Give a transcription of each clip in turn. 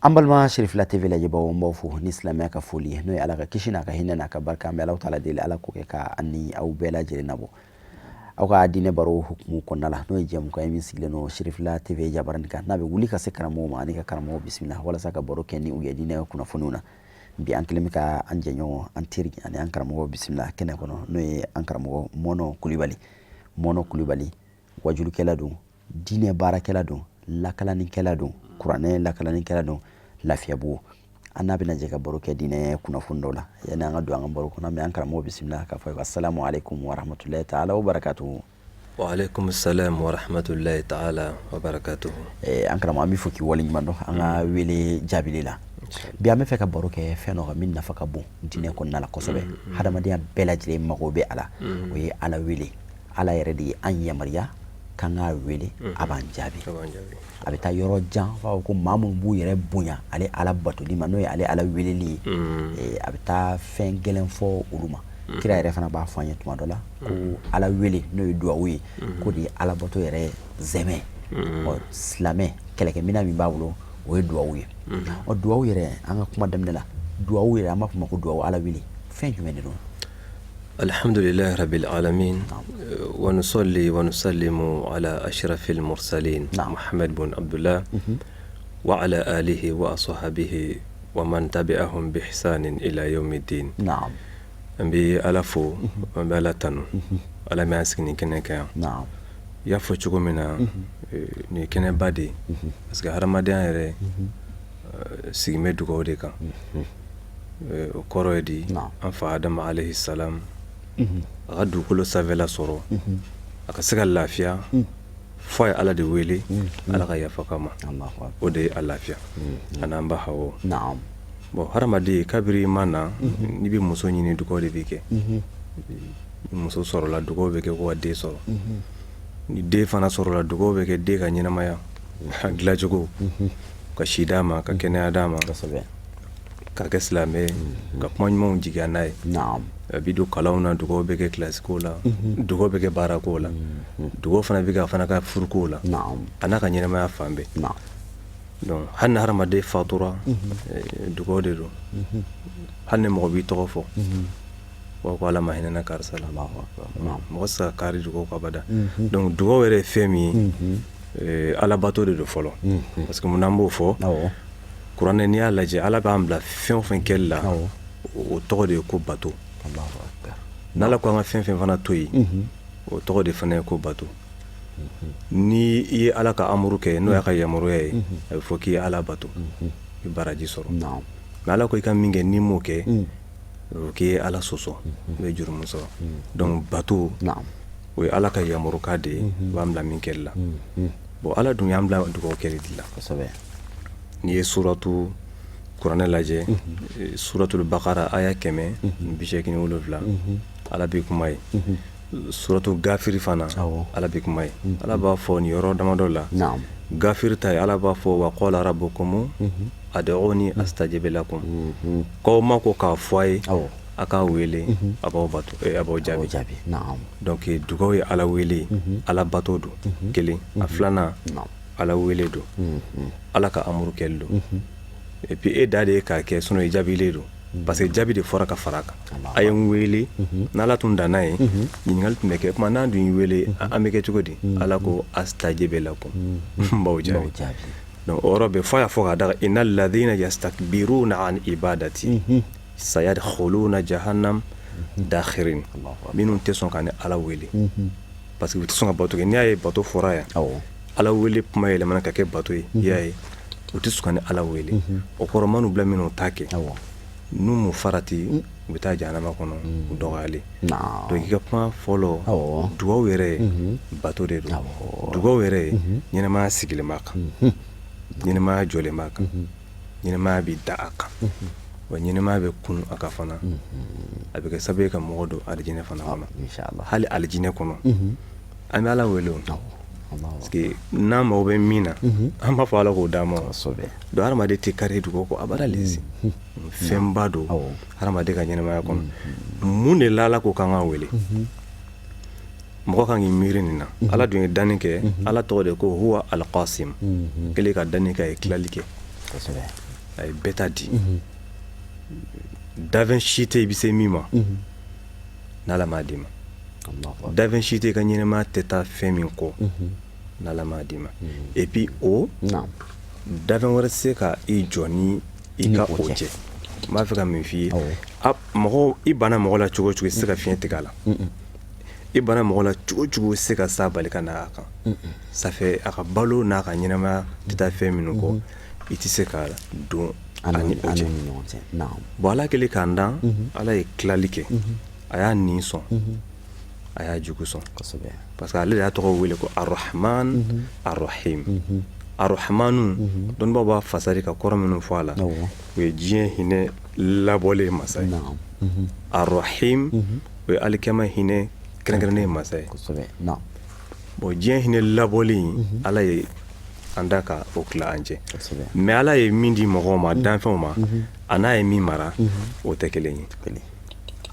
an balima sirifila tv lajɛbaaw n b'aw fo ni silamɛya ka foli ye n'o ye ala ka kisi n'a ka hinɛ n'a ka barika an bɛ alahu taala deli ala k'o kɛ ka an ni aw bɛɛ lajɛlen nabɔ aw ka diinɛ baro hukumu kɔnɔna la n'o ye jɛmukan ye min sigilen don sirifila tv jabarani kan n'a bɛ wuli ka se karamɔgɔw ma ani ka karamɔgɔw bisimila walasa ka baro kɛ ni u ye diinɛ kunnafoniw na bi an kɛlen bɛ ka an jɛɲɔgɔn an teri ani an karamɔgɔ bisimila kɛnɛ kɔnɔ n'o ye an karamɔgɔ mɔnɔ kulibali mɔnɔ kulibali wajulikɛla don diinɛ baarakɛla don lakalanikɛla don kuranɛ lakalanikɛla don lafiyabugu an n'a bɛna jɛ ka baro kɛ diinɛ kunnafoni dɔ la yanni an ka don an ka baro kɔnɔ n bɛ an karamɔgɔ bisimila k'a fɔ assalamu alaikum warahmatulahi taala wa barakatuhu waaleykum salam warahmatulahi taala wa barakatuhu eh, an karamɔgɔ an b'i fo k'i waleɲuman dɔn an ka wele jaabili la bi an b'a fɛ ka baro kɛ fɛn dɔ kan min nafa ka bon diinɛ kɔnɔna la kosɛbɛ mm, mm. hadamadenya bɛɛ lajɛlen mago bɛ a la mm. o ye ala wele ala yɛrɛ de ye an yamaruya k'an k'a wele a b'an jaabi a bɛ taa yɔrɔ jan f'a ko maa minnu b'u yɛrɛ bonya ale ala batoli ma n'o ye ale ala weleli ye eh, a bɛ taa fɛn gɛlɛn fɔ olu ma kira yɛrɛ fana b'a fɔ an ye tuma dɔ la ko ala wele n'o ye duwawu ye k'o de ye alabato yɛrɛ sɛmɛ silamɛ kɛlɛkɛminɛn min b'a bolo o ye duwawu ye o duwawu yɛrɛ an ka kuma daminɛ la duwawu yɛrɛ an b'a fɔ ma ko duwawu ala wele fɛn jumɛn de don alihamdulilahi rabil alamin wa nusɔli wa nusalimu ala ashrafil mursalin mohamad bun abdulahi wa ala alihi wa ashabihi wa man tabiahum bi ihsanin ila yawmi din an bɛ ala fo an bɛ ala tanu ala min y'an sigi nin kɛnɛ kan i y'a fɔ cogo min na nin ye kɛnɛba de ye parce que hadamadenya yɛrɛ sigilen bɛ dugawu de kan o kɔrɔ ye di an fa adama alayhi salam a ka dugukolo sanfɛla sɔrɔ a ka se ka lafiya fo a ye ala de wele ala ka yafa k'a ma o de ye a lafiya ani an ba hawa bon hadamadenya kabini i ma na n'i bɛ muso ɲini dugawu de bɛ kɛ muso sɔrɔla dugawu bɛ kɛ ka den sɔrɔ ni den fana sɔrɔla dugawu bɛ kɛ den ka ɲɛnamaya ka dilacogo ka si d'a ma ka kɛnɛya d'a ma k'a kɛ silamɛ ka kuma ɲumanw jigiya n'a ye a bɛ don kalan na dugawu bɛ kɛ kilasiko la dugawu bɛ kɛ baara ko la dugawu fana bɛ a fana ka furuko la a n'a ka ɲɛnamaya fan bɛɛ hali ni hadamaden fatura dugawu de don hali ni mɔgɔ b'i tɔgɔ fɔ Wa ko ala ma hinɛna karisa la mɔgɔ tɛ kari dugawu kɔ abada donc dugawu yɛrɛ ye fɛn min ye ala bato de don fɔlɔ parce que n'an b'o fɔ kuranɛ n'i y'a lajɛ ala k'an bila fɛn o fɛn kɛli la o tɔgɔ de ye ko bato n' ala ko an ka fɛn o fɛn fana to yen o tɔgɔ de fana ye ko bato ni i ye ala ka amuru kɛ n'o y'a ka yamaruya ye a bɛ fɔ k'i ye ala bato i bɛ baraji sɔrɔ ala ko i ka min kɛ n'i m'o kɛ k'i ye ala sɔsɔ i bɛ jurumu sɔrɔ donc bato o ye ala ka yamarukan de ye b'an bila min kɛ la bon ala dun y'an bila dugawu kɛ de la n'i ye suratu kuranɛ lajɛ suratul bakara aya kɛmɛ bi segin wolonwula ala bɛ kuma yen suratu gafir fana ala bɛ kuma yen ala b'a fɔ nin yɔrɔ damadɔ la gafir ta ye ala b'a fɔ wa qala rabbukum ud'uni astajib lakum K'aw ma ko k'a fɔ a ye a k'a wele a b'aw b'aw jaabi jaabi donc dugawu ye ala wele ala bato don kelen a filanan ala wele don ala ka amuru kɛli don et puis e ta de ye k'a kɛ sinon i jaabilen don parce que jaabi de fɔra ka fara a kan a ye n wele n' ala tun danna yen ɲininkali tun bɛ kɛ ko mais n'an dun y'i wele an bɛ kɛ cogo di ala ko astajib lakum n b'aw jaabi Donc o yɔrɔ bɛ fɔ a y'a fɔ ka taga inna ladina yastakbiruna an ibadati sayadkhuluna jahannama dakhirin minnu tɛ sɔn ka ne ala wele parce que u tɛ sɔn ka bato kɛ n'i y'a ye bato fɔra yan ala wele kuma yɛlɛmana ka kɛ bato ye y'a ye u tɛ sɔn ka ne ala wele o kɔrɔmani bila minnu t'a kɛ n'u m'u farati u bɛ taa jahanama kɔnɔ u dɔgɔyalen donc kuma fɔlɔ dugawu yɛrɛ bato de don dugawu yɛrɛ ɲɛnɛmaya sigilen b'a kan ɲɛnɛmaya jɔlen b'a kan ɲɛnɛmaya bɛ dan a kan wa ɲɛnɛmaya bɛ kun a kan fana a bɛ kɛ sababu ka mɔgɔ don alijinɛ fana kɔnɔ hali alijinɛ kɔnɔ an bɛ ala wele n'an mago bɛ min na an b'a fɔ ala k'o d'an ma donc hadamaden tɛ kari dugawu kɔ a lase fɛnba don hadamaden ka ɲɛnamaya kɔnɔ mun de la ala ko k'an k'a wele mɔgɔ kan k'i miiri nin na ala dun ye danni kɛ ala tɔgɔ de ko huwa alqasim kelen ka danni kɛ a ye tilali kɛ a ye bɛɛ ta di danfɛn si tɛ i bɛ se min ma n'ala m'a d'i ma danfɛn si tɛ i ka ɲɛnɛmaya tɛ taa fɛn min kɔ n'ala m'a d'i ma et puis o danfɛn wɛrɛ tɛ se ka i jɔ ni i ka o cɛ n b'a fɛ ka min f'i ye mɔgɔ i banna mɔgɔ la cogo cogo i tɛ se ka fiɲɛ tigɛ a la i banna mɔgɔ la cogo cogo i tɛ se ka san bali ka na a kan ça fait a ka balo n'a ka ɲɛnamaya tɛ taa fɛn minnu kɔ i tɛ se ka don a ni o cɛ bon ala kɛlen k'an da ala ye tilali kɛ a y'a ɲin sɔn a y'a jugu sɔn parce que ale de y'a tɔgɔ wele ko arahamani arahimi arahamani dɔnnibaw b'a fasari ka kɔrɔ minnu fɔ a la o ye diɲɛ hinɛ labɔlen ye masa ye arahimi o ye alikiyama hinɛ kɛrɛnkɛrɛnnen ye masa ye bon diɲɛ hinɛ labɔlen ala ye an da ka o ki an cɛ mais ala ye min di mɔgɔw ma danfɛnw ma ani a ye min mara o tɛ kelen ye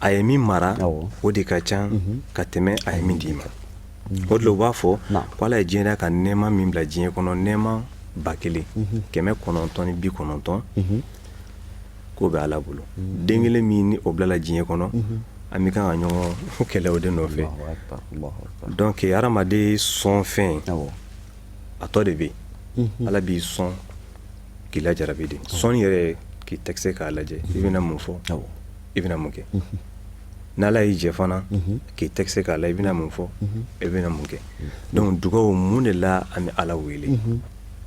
a ye min mara o de ka ca mhm. ka tɛmɛ a ye min d'i ma mhm. o de u b'a fɔ ko ala ye diɲɛ da ka nɛɛma min bila diɲɛ kɔnɔ nɛɛma ba kelen mhm. kɛmɛ kɔnɔntɔn ni bi kɔnɔntɔn k'o bɛ ala bolo den kelen min ni o bilala diɲɛ kɔnɔ an bɛ kan ka ɲɔgɔn kɛlɛ o de nɔfɛ donc hadamaden sɔn fɛn a tɔ de bɛ ala b'i sɔn k'i la jara de sɔn yɛrɛ ye k'i tester k'a lajɛ i bɛna mun fɔ i bɛna mun kɛ n' ala y'i jɛ fana k'i tester k'a lajɛ i bɛna mun fɔ i bɛna mun kɛ donc dugawu mun de la an bɛ ala wele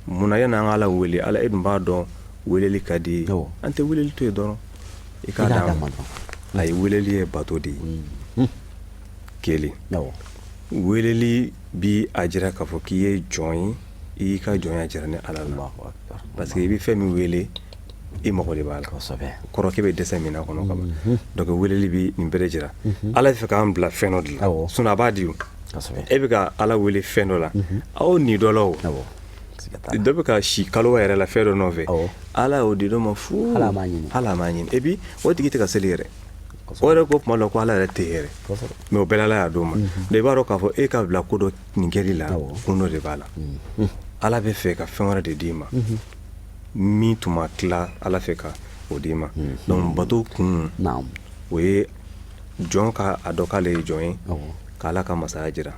munna ye n'an ala wele ala e b'a dɔn weleli ka di an tɛ wele to ye dɔrɔn i ka a ye weleli ye bato de ye ke wele bɛ a jira k'a fɔ k'i ye jɔn ye i ka jɔnya jira ni ala la parce que i bɛ fɛn min wele i mago de b'a la kɔrɔ k'i bɛ dɛsɛ min kɔnɔ kama dɔ weleli bɛ nin bere jira ala fɛ k'an bila fɛn dɔ de la sun a b'a di e bɛ ka ala wele fɛn dɔ la aw ni dɔlaw dɔ bɛ ka si kalo yɛrɛ la fɛn dɔ nɔfɛ ala y'o di dɔ ma fo ala ɲini et puis o tigi tɛ ka seli yɛrɛ o yɛrɛ ko tuma ko ala yɛrɛ tɛ mais o bɛɛ la a y'a d'o ma i b'a dɔn k'a fɔ e ka bila ko dɔ nin kɛli la kun dɔ de b'a la ala b'a fɛ ka fɛn wɛrɛ de d'i ma min tun ma tila ala fɛ ka o d'i ma donc bato kun o ye jɔn k'a dɔn k'ale ye jɔn ye ka ala ka masaya jira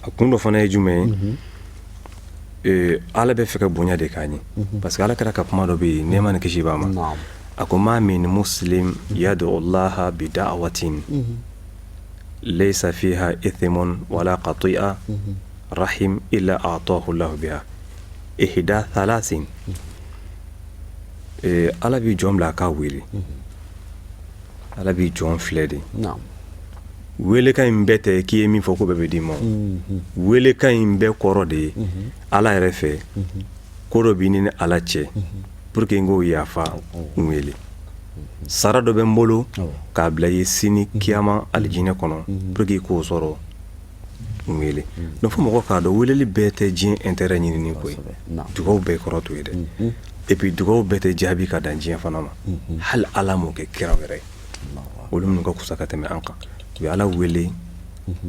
a kun dɔ fana ye jumɛn ye Eh, ala b'a fɛ ka bonya de k'an ye mhm. parce que ala kira ka kuma dɔ bɛ yen nɛɛma ni kisi b'a ma a ko ma min muslim yadu allaha bi da'awatin mhm. laysa fiha ithmu wala qati'atu rahim illa atahu allahu biha ihda thalathin ala bɛ jɔn bila a ka wele ala bɛ jɔn filɛ de welekan in bɛɛ tɛ k'i ye min fɔ k'o bɛɛ bɛ d'i ma welekan in bɛɛ kɔrɔ de ye ala yɛrɛ fɛ ko dɔ bɛ nin ni ala cɛ pour que n k'o yafa n wele sara dɔ bɛ n bolo k'a bila i ye sini kiyama alijinɛ kɔnɔ pour que k'o sɔrɔ n wele donc fo mɔgɔ k'a dɔn weleli bɛɛ tɛ diɲɛ intérêt ɲinini ko ye dugawu bɛɛ kɔrɔ t'o ye dɛ et puis dugawu bɛɛ tɛ jaabi ka dan diɲɛ fana ma hali ala m'o kɛ kiraw yɛrɛ ye olu minnu ka fusa ka tɛmɛ an kan u ye ala wele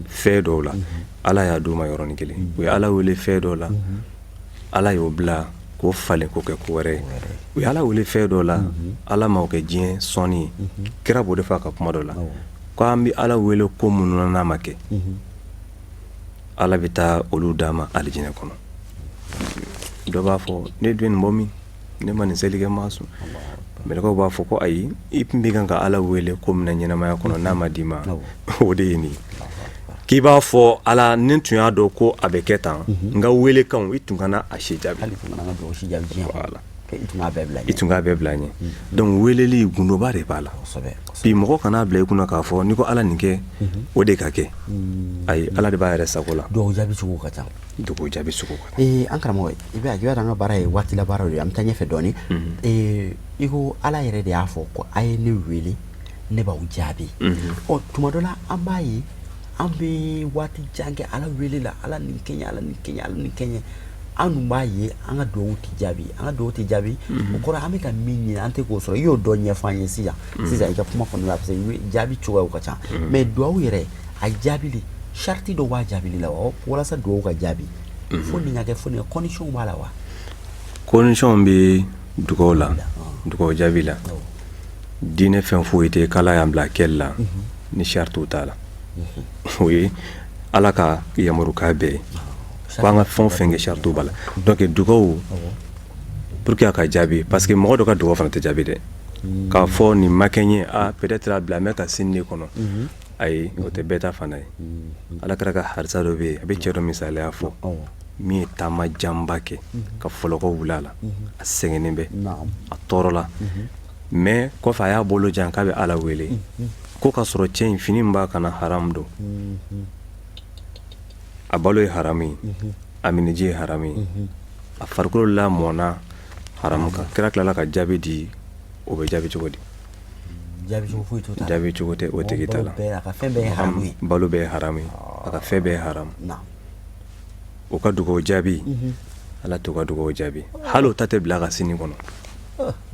fɛn dɔw la ala y'a d'u ma yɔrɔnin kelen u ye ala wele fɛn dɔw la ala y'o bila k'o falen k'o kɛ ko wɛrɛ u ye ala wele fɛn dɔ la ala m'o kɛ diɲɛ sɔɔni kira b'o de fɔ a ka kuma dɔ la k' an bɛ ala wele ko minnu n'a ma kɛ ala bɛ taa olu d'a ma alijinɛ kɔnɔ dɔ b'a fɔ ne dun ye nin bɔ min ne ma nin seli kɛ n ma sun mɛlɛkɛw b'a fɔ ko ayi i tun bɛ kan ka ala wele ko min na ɲɛnamaya kɔnɔ n'a ma d'i ma o de ye nin k'i b'a fɔ ala ni n tun y'a dɔn ko a bɛ kɛ tan n ka welekan i tun kana a si jaabi i tun bɛɛ bila n ɲɛ donc weleli gundoba de b'a la bi mɔgɔ kan'a bila i kunna k'a fɔ n'i ko ala nin kɛ o de ka kɛ ayi ala de b'a yɛrɛ sago la jaabi ka ca dugu jaabi sugu ee an karamɔgɔ i bɛ a jira an ka baara ye waati la baara ye an bɛ taa ɲɛfɛ dɔɔnin ee i ko ala yɛrɛ de y'a fɔ ko a ye ne wele ne b'aw jaabi ɔ tuma dɔ la an b'a ye an bɛ waati jan kɛ ala wele la ala ni kɛɲɛ ala ni kɛɲɛ ala ni kɛɲɛ an dun b'a ye an ka dugawu tɛ jaabi an ka dugawu tɛ jaabi o kɔrɔ an bɛ ka min ɲini an tɛ k'o sɔrɔ i y'o dɔn ɲɛfɔ an ye sisan sisan i ka kuma kɔnɔna la parce que jaabi cogoyaw ka ca mais dugawu yɛrɛ a jaabi sariti dɔ b'a jaabi la wa walasa dugawu ka jaabi mhm. fo nin ka kɛ fo conditions b'a la wa conditions bɛ dugawu la dugawu jaabi la diinɛ fɛn foyi tɛ k'ala y'an bila kɛli la mhm. ni saritiw t'a la mhm. o ye ala ka yamarukan bɛɛ ye ko an ka fɛn o fɛn kɛ saritiw b'a la donc dugawu pour que a ka jaabi parce que mɔgɔ dɔ ka dugawu fana tɛ jaabi dɛ k'a fɔ nin ma kɛ n ye a ah, peut-être a bilalen bɛ ka sini de kɔnɔ ayi o tɛ bɛɛ ta fan ye ala kira ka hadisa dɔ bɛ yen a bɛ cɛ dɔ misaliya fɔ min ye taama janba kɛ ka fɔlɔkɔ wili a la a sɛgɛnnen bɛ a tɔɔrɔlen bɛ kɔfɛ a y'a bolo jan k'a bɛ ala wele ko k'a sɔrɔ cɛ in fini b'a kan na haramu don a balo ye haramu ye a minji ye haramu ye a farikolo lamɔna haramu kan kira tilala ka jaabi di o bɛ jaabi cogo di Jaabicogo foyi t'o ta la, jaabi cogo tɛ o tigi ta la, a ka fɛn bɛɛ ye haramu ye, balo bɛɛ ye haramu ye, a ka fɛn bɛɛ ye haramu, naamu, o ka dugawu jaabi, unhun, Ala t'o ka dugawu jaabi hali o ta tɛ bila a ka sini kɔnɔ,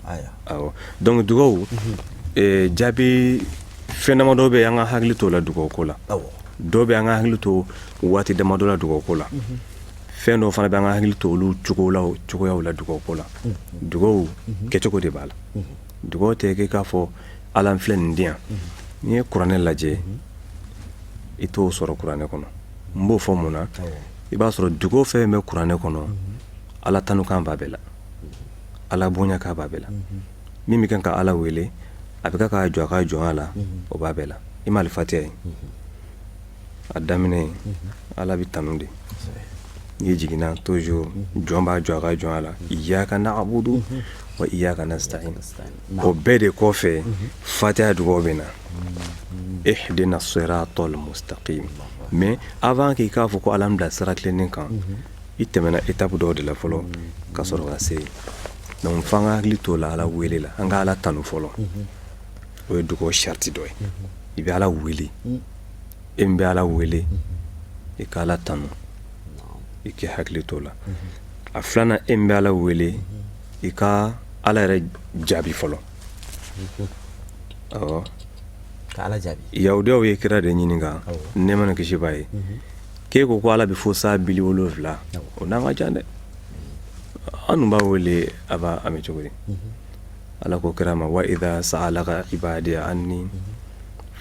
aya, awɔ, donc dugawu, unhun, ee jaabi fɛn damadɔ bɛ yen an ka hakili t'o la dugawu ko la, awɔ, dɔ bɛ yen an ka hakili to waati damadɔ la dugawu ko la, unhun, fɛn dɔw fana bɛ yen an ka hakili to olu cogoyaw la dugawu ko la, unhun, dugawu kɛcogo de b'a la, unhun Dugaw tɛ kɛ i k'a fɔ ala n filɛ nin di yan n'i ye kuranɛ lajɛ i t'o sɔrɔ kuranɛ kɔnɔ n b'o fɔ mun na i b'a sɔrɔ dugaw fɛn in bɛ kuranɛ kɔnɔ ala tanukan b'a bɛɛ la ala bonyakan b'a bɛɛ la min bɛ kan ka ala wele a bɛ ka jɔ a ka jɔnya la o b'a bɛɛ la i m'alifatiya ye a daminɛ ye ala bɛ tanu de n'i jiginna to jɔn b'a jɔ a ka jɔnya la iyaka nabudu wa iyaka nasitayin o bɛɛ de kɔfɛ fatiya dugawu bɛ na ihidina siratal mustakima a b'a kɛ k'a fɔ ko ala an bila sira tilennen kan i tɛmɛna etapu dɔw de la fɔlɔ ka sɔrɔ ka se yen f'an ka hakili t'o la ala wele la an ka ala tanu fɔlɔ o ye dugawu sariti dɔ ye i bɛ ala wele e bɛ ala wele i ka ala tanu i k'i hakili t'o la a filanan e bɛ ala wele i ka ala yɛrɛ jaabi fɔlɔ yahudiyaw ye kira de ɲininka nɛɛma ni kisi b'a ye k'e ko ko ala bɛ fo san bili wolonfila o n'an ka jan dɛ an b'a wele a b'a mɛn cogo ala ko kira ma wa ida saalaka ibadi anni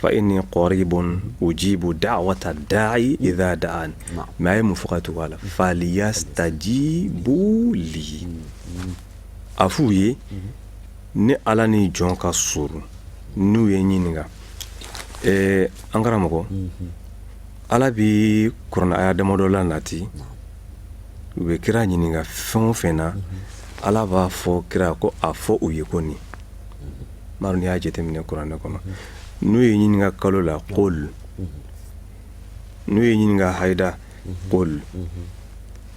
fa inni karibun ujibu dawata dayi ida dani mɛ a ye mun fɔ ka tugu a la faliyasitajibu li a f'u ye ne ala ni jɔn ka surun n'u y'i ɲininka ɛɛ an karamɔgɔ ala bɛ kuranɛ aya damadɔ la nati u bɛ kira ɲininka fɛn o fɛn na ala b'a fɔ kira ko a fɔ u ye ko nin n y'a jateminɛ kuranɛ kɔnɔ n'u y'i ɲininka kalo la kulu n'u y'i ɲininka hada kulu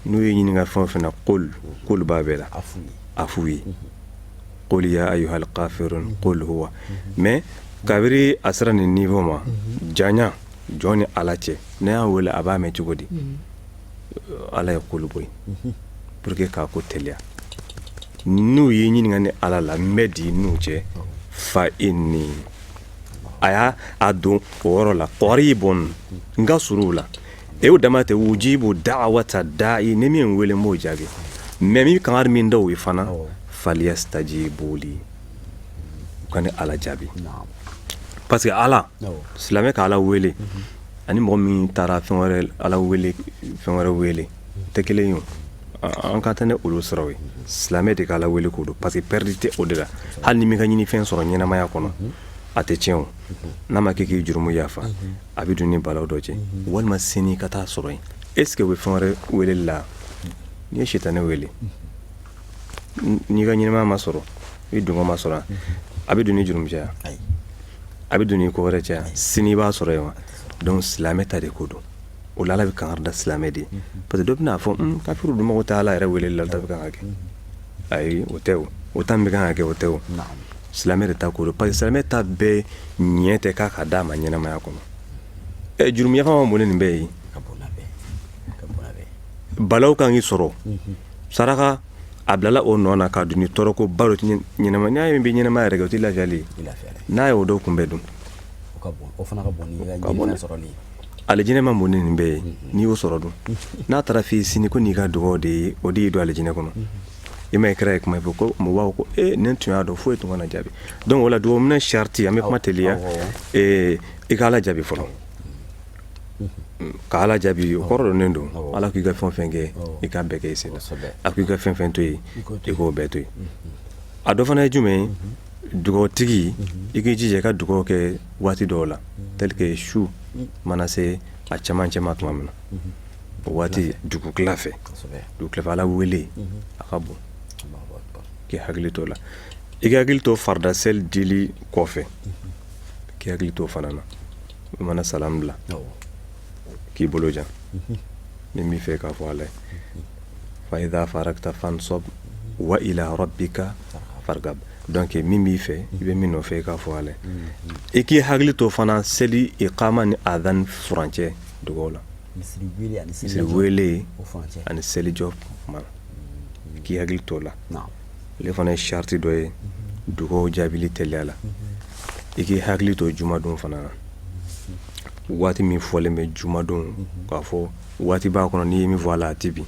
n'u y'i ɲininka fɛn o fɛn na kulu b'a bɛɛ la a f'u ye kul ya ayuhal kafiruna mɛ kabiri a sera nin niveau ma jan jɔn ni ala cɛ ne y'a wele a b'a mɛn cogo di mm. ala ye kulu bɔ yen mm-hmm. pour que k'a ko teliya n'u y'i ɲininka ne ala la n bɛ di n'u cɛ fa inni a y'a a don o yɔrɔ la karibun n ka surun u la e o dama tɛ ujibu dawata dayi ni min wele n b'o jaabi mɛ n bɛ kangari min da o ye fana faliyasitajibu li u ka ni ala jaabi parce que ala silamɛ ka ala wele ani mɔgɔ min taara fɛn wɛrɛ ala wele fɛn wɛrɛ wele tɛ kelen ye an ka tɛ ne olu sɔrɔ ye silamɛ de k' ala wele ko don parce que pɛridi tɛ o de la hali n'i m'i ka ɲinifɛn sɔrɔ ɲɛnamaya kɔnɔ a tɛ tiɲɛ o n'a ma kɛ k'i jurumu yafa a bɛ don ni balawu dɔ cɛ walima sini ka taa sɔrɔ yen e sigi u bɛ fɛn wɛrɛ wele la n'i ye sitanɛ wele n'i ka ɲɛnamaya ma sɔrɔ i dungɔ ma sɔrɔ a bɛ don ni jurumu caya a bɛ don ni ko wɛrɛ caya sini b'a sɔrɔ yen wa donc silamɛ ta de ko don o ala bɛ kanga da silamɛ de parce que dɔ bɛna a fɔ kafiri dun mɔgɔ ta ala yɛrɛ wele la da bɛ kan ka kɛ ayi o tɛ o tan bɛ kan ka kɛ o tɛ o silamɛ de ta ko don parce que silamɛ ta bɛɛ ɲɛ tɛ k'a ka d'a ma ɲɛnamaya kɔnɔ ɛ jurumu yafa ma bon ni nin bɛɛ ye balawu ka k'i sɔrɔ saraka a bilala o nɔ na ka dun tɔɔrɔ ko balo ɲɛnama n'a ye bɛ ɲɛnama yɛrɛ o tɛ lajɛli n'a ye o don kun bɛ dun alijinɛ ma bon nin bɛɛ ye n'i y'o sɔrɔ dun n'a taara fɔ i sini ko n'i ka dugawu de ye o de y'i don alijinɛ kɔnɔ i ma kira ye kuma fɔ ko mɔgɔw ko e ne tun y'a dɔn foyi ye tun ka jaabi donc wala la dugawu minɛ sarati an bɛ kuma teliya i ka ala jaabi fɔlɔ Ka ala jaabi o kɔrɔ dɔnen don ala k'i ka fɛn fɛn kɛ i k'o bɛɛ kɛ n'a ko i ka fɛn fɛn to yen i k'o bɛɛ to yen a dɔ fana ye jumɛn dugawutigi i k'i jija ka dugawu kɛ waati dɔw la terikɛ su mana se a camancɛ ma tuma min na o waati dugutila fɛ u tila ala wele a ka bon k'i hakili to a la i hakili to farida seli deli kɔfɛ k'i hakili to fana na i mana salamu bila k'i bolo jan min b'i fɛ i k'a fɔ ala ye fa iza faragta fansab wa ila rabika fargab donc min b'i fɛ i bɛ min nɔfɛ i k'a fɔ ala ye i k'i hakili to fana seli ikama ni adani furancɛ dugaw la wele ani selijɔ k'i hakili to a la ale fana ye sarati dɔ ye dugaw jaabili teliya la i k'i hakili to jumadon fana na waati min fɔlen bɛ jumadon k'a fɔ waati b'a kɔnɔ n'i ye min fɔ a la a tɛ bin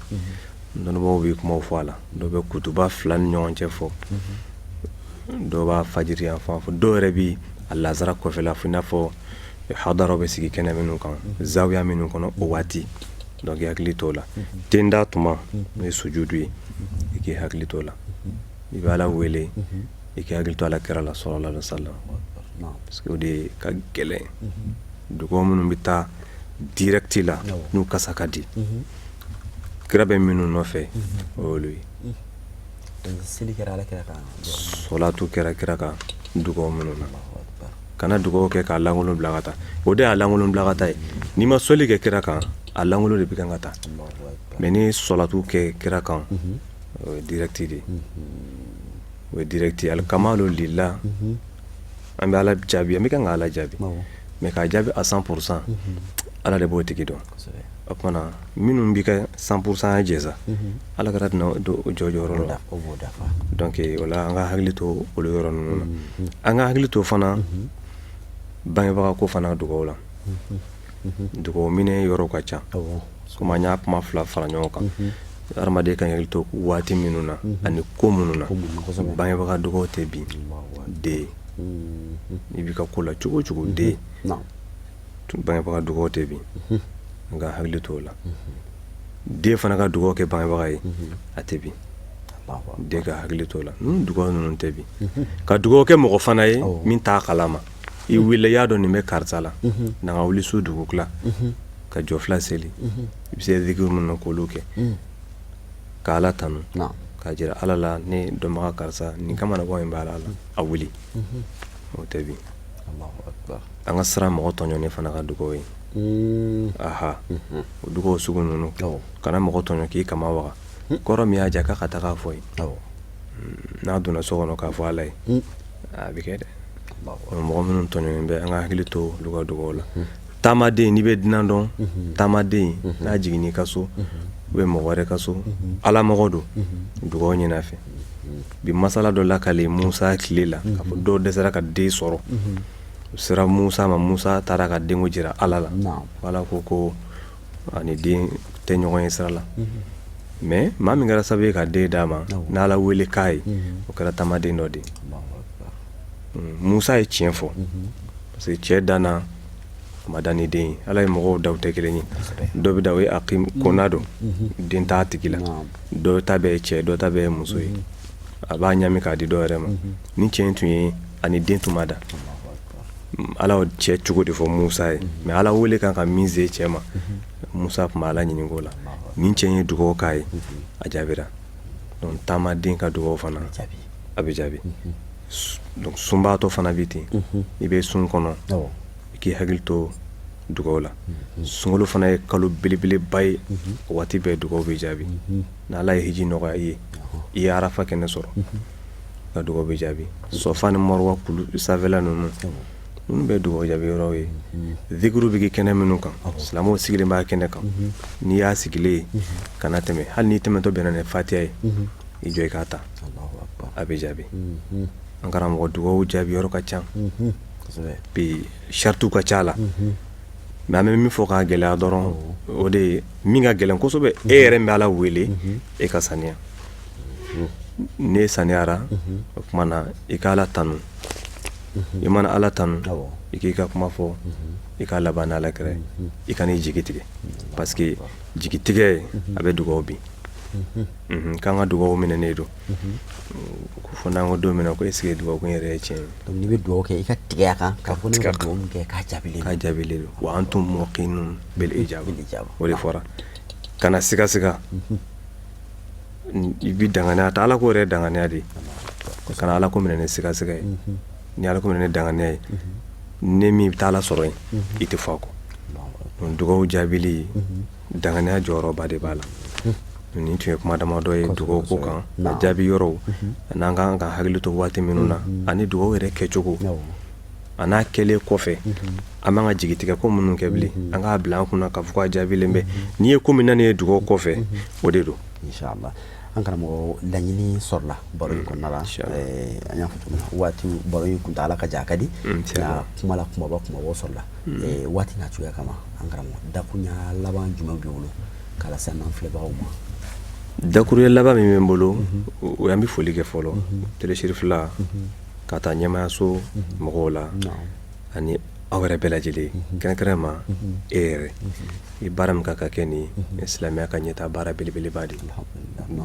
dɔnnibaw bɛ kuma fɔ a la dɔw bɛ kutuba fila ni ɲɔgɔn cɛ fɔ dɔw b'a fajiri yan fan fɔ dɔw yɛrɛ bɛ a laansara kɔfɛla fɔ i n'a fɔ hadara bɛ sigi kɛnɛ minnu kan zawiya minnu kɔnɔ o waati donc i hakili t'o la ten da tuma n'o ye sujudu ye i k'i hakili t'o la i bɛ ala wele i k'i hakili to ala kira la salalahu alayihi wa salam parce que o de ka gɛlɛn dugaw minnu bɛ taa direct la n'u kasa ka di kira bɛ minnu nɔfɛ o y'olu ye seli kɛra ala kira kan sɔlatu kɛra kira kan dugaw minnu na kana dugawu kɛ k'a lankolon bila ka taa o de y'a lankolon bila ka taa ye n'i ma seli kɛ kira kan a lankolon de bɛ kan ka taa mais ni sɔlatu kɛ kira kan o ye direct dɛ o ye direct alihamudulilahi an bɛ ala jaabi an bɛ kan ka ala jaabi mais k'a jaabi a cent pour cent ala de b'o tigi dɔn o tuma na minnu bɛ ka cent pour cent ya jɛsa Ala ka tɛna don o jɔj la o b'o dafa donc o an ka hakili to olu yɔrɔ ninnu na an ka hakili to fana bangebaga ko fana dugaw la dugaw minɛ yɔrɔ ka ca komi y'a kuma fila fara ɲɔgɔn kan hadamaden ka hakili to waati minnu na ani ko minnu na bangebaga dugawu tɛ bin den i bɛ ka ko la cogo cogo den bangebaga dugawu tɛ bin an ka hakili to o la den fana ka dugawu kɛ bangebaga ye a tɛ bin dɛ an ka hakili t'o la dugawu ninnu tɛ bin ka dugawu kɛ mɔgɔ fana ye min t'a kalama i yɛrɛ y'a dɔn nin bɛ karisa la n'i wuli su dugutila ka jɔ fila seli i bɛ se diki minnu kolo kɛ ka ala tanu k'a jira ala la ne dɔnbaga karisa ni ka bɔ in b'a la a wuli o tɛ bin an ka siran mɔgɔ tɔɲɔnen fana ka dugawu ɲɛ aa o dugawu sugu ninnu kana mɔgɔ tɔɲɔ k'i kaman waa ko yɔrɔ min y'a jɛ k'a ka taa' fɔ yen n'a donna so kɔnɔ k'a fɔ ala ye a bɛ kɛ dɛ mɔgɔ minnu tɔ bɛ an ka hakili to dugawu dugawu la taamaden n'i bɛ dunan dɔn taamaden n'a jigin i ka so ou bien mɔgɔ wɛrɛ ka so ala mɔgɔ don dugawu ɲini a fɛ a bɛ masala dɔ la k'ale musa tile la ko dɔ dɛsɛra ka den sɔrɔ u sera musa ma musa taara ka den jira ala la ala ko ko ani den tɛ ɲɔgɔn ye sira la mais maa min kɛra sababu ye ka den d'a ma n' ala wele k'a ye o kɛra taamaden dɔ de musa ye tiɲɛ fɔ parce que cɛ dan na a ma dan ni den ala ye mɔgɔw dan tɛ kelen ye dɔ bɛ dan o ye a kona don den t'a tigi la dɔ ta bɛɛ ye cɛ dɔ ta bɛɛ ye muso ye a b'a ɲami k'a di dɔw yɛrɛ ma ni cɛ in tun ye ani den tun ma da ala cɛ cogo de fɔ musa ye mɛ ala wele kan ka min se cɛ ma musa tun bɛ ala ɲini ko la ni cɛ ye dugawu k'a ye a jaabira taamaden ka dugawu fana a bɛ jaabi sunbaatɔ fana bɛ ten i bɛ sun kɔnɔ i k'i hakili to dugaw la sunkalo fana ye kalo belebeleba ye waati bɛɛ dugaw bɛ jaabi n' ala ye hiji nɔgɔya i ye i ye arafa kɛnɛ sɔrɔ ka dugawu bɛ jaabi safa ni maruwa kulu sanfɛla ninnu minnu bɛ dugawu jaabi yɔrɔ ye uru bɛ kɛnɛ minnu kan silamɛw sigilen b'a kɛnɛ kan n'i y'a sigilen ka tɛmɛ hali n'i tɛmɛtɔ bɛna fatiya ye i jɔ i k'a ta a bɛ jaabi an karamɔgɔ dugawu jaabi yɔrɔ ka ca bi saratiw ka ca mɛ n bɛ min fɔ k'a gɛlɛya dɔrɔn o de ye min ka gɛlɛn kosɛbɛ e yɛrɛ bɛ ala wele e ka saniya n'e saniyara o tuma na i ka ala tanun i mana ala tanun i k'i ka kuma fɔ i ka laban ala kɛra i kan'i jigi tigɛ parce que jigi tigɛ a bɛ dugaw bin k'an ka dugaw minɛ ne don ko fɔ n'an ko don min ko e sigi dugawu yɛrɛ ye tiɲɛ n'i bɛ dugawu kɛ i k'a tigɛ a kan ka fɔ ne ka dugawu kɛ k'a jaabi ka jaabi don wa antum mukinuna bil ijaaba o de fɔra kana sigasiga i bɛ danganiya ta ala ko yɛrɛ danganiya de kana ala ko minɛ ni sigasiga ye n'i ye ala ko minɛ ni danganiya ye ne min bɛ taa ala sɔrɔ yen i t'a fɔ ko dugawu jaabili danganiya jɔyɔrɔba de b'a la nin tun ye kuma damadɔ ye dugawu ko kan a jaabi yɔrɔw ani an ka kan ka hakili to waati minnu na ani dugawu yɛrɛ kɛcogo a n'a kɛlen kɔfɛ an man kan ka jigitigɛ ko minnu kɛ bilen an k'a bila an kunna ka fɔ a jaabilen bɛ n'i ye ko min na nin ye dugawu kɔfɛ o de don an karamɔgɔ laɲini sɔrɔla baro kɔnɔna la an y'a waati baro in tun taa ala ka jan ka di kuma la kumaba kuma sɔrɔla waati na cogoya kama an karamɔgɔ dakun laban jumɛn b'i bolo ka lase an filɛbagaw ma dakuruya laban min bɛ n bolo o ye an bɛ foli kɛ fɔlɔ télé chérifla ka taa ɲɛmaayaso mɔgɔw la ani aw yɛrɛ bɛɛ lajɛlen kɛrɛnkɛrɛn ma e yɛrɛ i baara min kan k'a kɛ nin silamɛya ka ɲɛtaa baara belebeleba de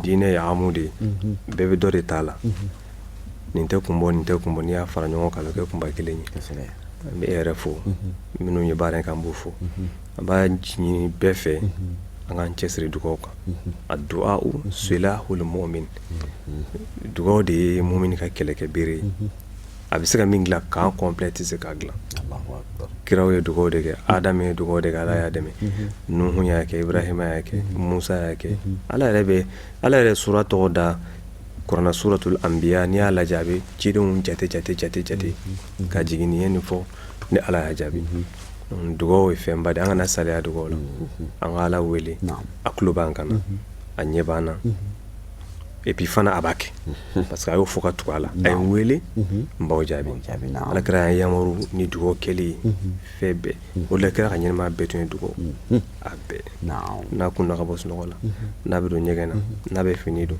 diinɛ ye amu de ye bɛɛ bɛ dɔ de ta a la nin tɛ kun bɔ nin tɛ kun bɔ n'i y'a fara ɲɔgɔn kan kɛ kunba kelen ye n bɛ e yɛrɛ fo minnu ye baara in kan n b'u fo An b'a ɲini bɛɛ fɛ an k'an cɛ siri dugawu kan addu'a silahul mu'min dugawu de ye mumini ka kɛlɛkɛ bereere ye a bɛ se ka min dilan k'an kɔnplɛ tɛ se k'a dilan kiraw ye dugawu de kɛ ha ye dugawu de kɛ ala y'a dɛmɛ nuhu y'a kɛ ibrahima y'a kɛ musa y'a kɛ ala yɛrɛ bɛ ala yɛrɛ sura tɔgɔ da kuranɛ na suratul anbiya n'i y'a lajɛ a bɛ cidenw jate jate jate jate ka jigin nin ye nin fɔ ni ala y'a jaabi dugawu ye fɛn ba de ye an kana saliya dugawu la an ka Ala wele a tulo b'an kan na a ɲɛ b'an na et puis fana a b'a kɛ parce que a y'o fɔ ka tugu a la a ye n wele n b'aw jaabi Alakira y'an yamaru ni dugawu kɛli ye fɛn bɛɛ o de la kira ka ɲɛnamaya bɛɛ tun ye dugawu a bɛɛ n'a kunna ka bɔ sunɔgɔ la n'a bɛ don ɲɛgɛn na n'a bɛ fini don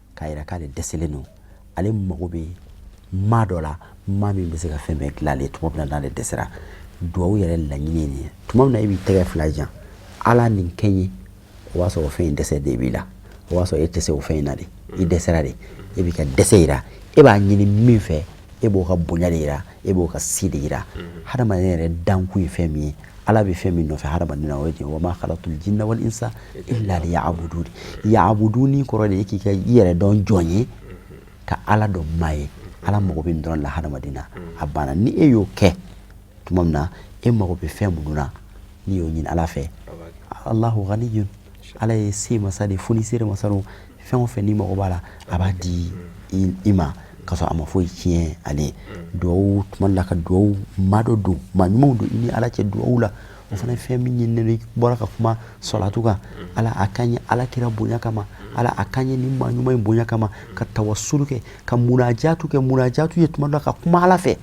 k'a yira k'ale dɛsɛlen don ale mago bɛ maa dɔ la maa min bɛ se ka fɛn bɛɛ dilan ale tuma min na n'ale dɛsɛra duwawu yɛrɛ laɲini ye nin ye tuma min na e b'i tɛgɛ fila jan ala nin kɛ n ye o b'a sɔrɔ fɛn in dɛsɛ de b'i la o b'a sɔrɔ e tɛ se o fɛn in na de i dɛsɛra de e b'i ka dɛsɛ yira e b'a ɲini min fɛ e b'o ka bonya de jira e b'o ka se de jira mhm. hadamaden yɛrɛ dankun ye fɛn min ye ala bɛ fɛn min nɔfɛ hadamaden na o ye wa ma khalaqtul jinna wal insa illa liya'budun ya'buduni kɔrɔ de ye k'i ka i yɛrɛ dɔn jɔn ye mhm. ka ala dɔn maa ye mhm. ala mago bɛ nin dɔrɔn la hadamaden na a banna ni e y'o kɛ tuma min na e mago bɛ fɛn minnu na n'i y'o ɲini ala fɛ alahu ghaniyun ala ye se masa de ye fonisire masa don fɛn o fɛn n'i mago b'a la a b'a di i ma ka sɔrɔ a ma foyi tiɲɛ ale ye duwawu tuma la ka duwawu maa dɔ don maa ɲumanw don i ni ala cɛ duwawu la o fana ye fɛn min ɲininen don i bɔra ka kuma salatu kan ala a k'an ye ala kira bonya kama ala a k'an ye nin maa ɲuman in bonya kama ka tawasulu kɛ ka munajatu kɛ munajatu ye tuma dɔ la ka kuma ala fɛ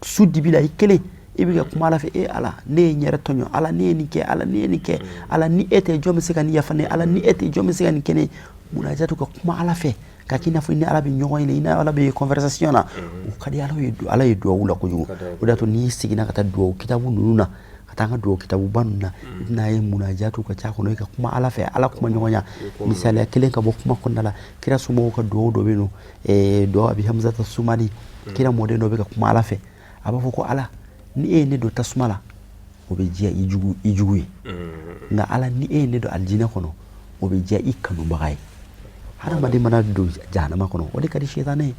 su dibi la i kelen i bɛ ka kuma ala fɛ e ala ne ye n yɛrɛ tɔɲɔ ala ne ye nin kɛ ala ne ye nin kɛ ala ni e tɛ jɔn bɛ se ka nin yafa n ye ala ni e tɛ jɔn bɛ se ka nin kɛ n ye munajatu ka kuma ala fɛ ka k'i n'a fɔ i ni ala bɛ ɲɔgɔn ɲɛ i ni ala bɛ conversation na o ka di ala ye ala ye dugawu la kojugu o d'a to n'i seginna ka taa dugawu kitabu ninnu na ka taa an ka dugawu kitabuba ninnu na i bɛna a ye munajatu ka ca a kɔnɔ i ka kuma ala fɛ ala kuma ɲɔgɔnya misaliya kelen ka bɔ kuma kɔnɔna la kira somɔgɔw ka dugawu dɔ bɛ yen n'o du'a abu hamzata sumali kira mɔden dɔ bɛ ka kuma ala fɛ a b'a fɔ ko ala ni e ye ne don tasuma la o bɛ diya i jugu i jugu ye mm. nka ala ni e ye ne don alijinɛ kɔnɔ o bɛ diya i kanubaga ye hadamaden mana don jahanama kɔnɔ o de ka di sitanɛ ye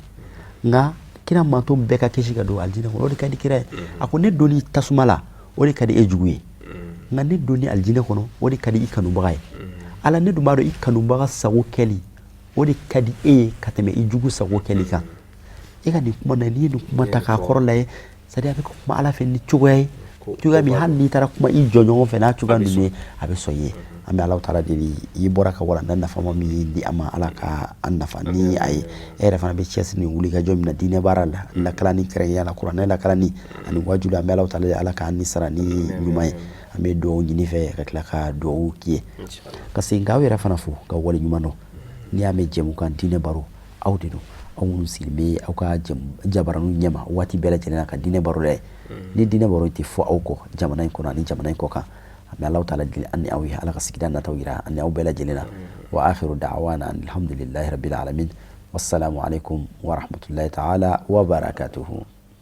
nka kira mantɔn bɛɛ ka kisi ka don alijinɛ kɔnɔ o de ka di kira ye mm. a ko ne donni tasuma la o de ka di e jugu ye mm. nka ne donni alijinɛ kɔnɔ o de ka di i kanubaga ye ala ne dun b'a dɔn i kanubaga sago kɛli o de ka di e ye ka tɛmɛ i jugu sago kɛli kan e ka nin kuma na n'i ye nin kuma ta k'a kɔrɔ lajɛ sadi a bɛ kuma ala fɛ ni cogoya ye cogoya min hali n'i taara kuma i jɔɲɔgɔn fɛ n'a cogoya ninnu ye a bɛ sɔn i ye an bɛ ala taala deli i bɔra ka walanda nafama min ye di an ma ala ka an nafa ni a ye e yɛrɛ fana bɛ cɛsiri ni wulikajɔ min na diinɛ baara la lakalani kɛrɛnkɛrɛnya la kuranɛ lakalani ani waajuli an bɛ ala taala ala k'an ni sara ni ɲuman ye an bɛ dugawu ɲini i fɛ ka tila ka dugawu k'i ye ka segin k'aw yɛrɛ fana fo k'aw waleɲumandɔn n'i y'a mɛn jɛmukan diinɛ baro aw de don aw minnu sigilen bɛ aw ka jabaranu ɲɛma waati bɛɛ lajɛlen ka diinɛ baro dɛ hmm. ni diinɛ baro tɛ fɔ aw kɔ jamana in kɔnɔ ani jamana in kɔ kan an bɛ ala taala deli an ni aw ye ala ka sigida nata jira an ni aw bɛɛ lajɛlen na hmm. wa akiru dawana anilihamdulilahi rabil alamin wasalamu aleyikum warahamatulayi taala wabarakatuhu